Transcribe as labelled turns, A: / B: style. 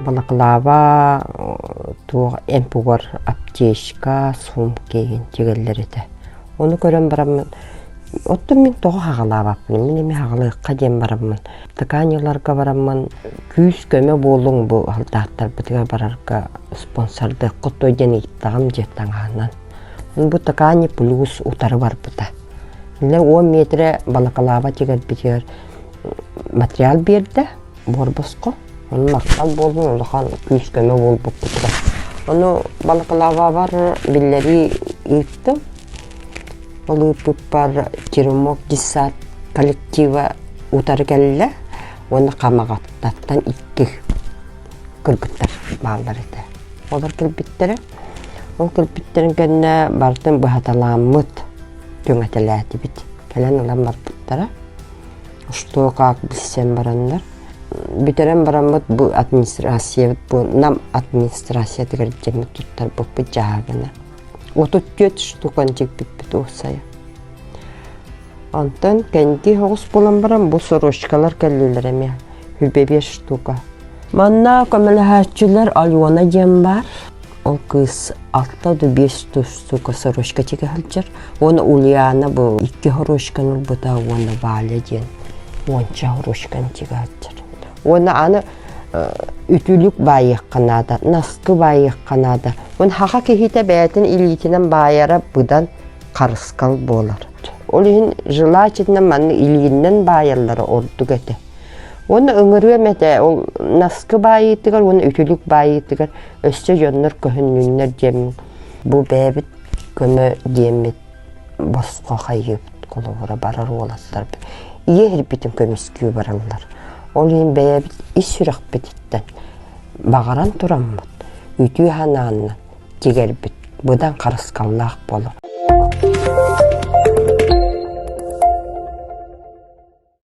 A: Балаклава туох эмпугар аптечка, сумка ин тигаллар этэ. Оны көрөн бараммын оттон мин тоҕо хагалаабаппын мин эми хагалыахха диэн бараммын тыкааньыларга бараммын күүс көмө буолуҥ бу алтааттарбытыгар барарга спонсордыаххыт дуо диэн ыйыттаҕым дьиэ таҥаһынан Бутакаани плюс утары барбыта. Дьэ уон миэтирэ балакалааба тигэрбитигэр материал биэрдэ буорбоско. Ону махтал буоллун улахан күүскөмө буолбуппутугар. Ону балакалаабабар биллэрии ыыттым. Ол ыыппыппар Черемок десант коллектива утары кэллэ уонна Хамаҕаттаттан икки кыргыттар бааллар этэ. Олор кэлбиттэрэ Ол кэлбиттэрин кэннэ барытын быһаталааммыт, түҥэтэлээтибит. Кэлэн ылан барбыттара. Что, как билсэн бараннар. Бүтэрэн бараммыт бу администрация нам администрациятыгар дьэҥҥэ туттарбыппыт дьаһагына. Отут төрт штук ончикпиппит уусайа. Онтон кэнди соҕус булан баран бу сорочкалар кэллилэр эмиэ үбэбиэс штука. Манна көмөлөһөөччүлэр Алена диэн бар. Ол кыыс алта да биэс тус сука сорочка тигэ сылдьар. Уона Ульяна бу икки хорошканы ылбыта уона Валя диэн уонча хорошканы тигэ сылдьар. Уона аны үтүлүк баайыахха наада, наскы баайыахха наада. Уон хаха киһитэ бэйэтин илиитинэн баайара быдан харыскал буолар. Ол иһин желательно манна илииннэн баайаллара ордук этэ. Уонна ыҥырыам этэ, ол наскы баайыытыгар уонна үтүлүк баайыытыгар өссө дьоннор көһүннүннэр диэммин, бу бэйэбит көмө диэммит босхо хайыыбыт холобура барар уолаттарбыт ийэ ирбитин көмүскүү бараллар. Ол иһин бэйэбит ис сүрэхпититтэн баҕаран тураммыт үтүө санааннан тигэрбит быдан харысхаллаах буолар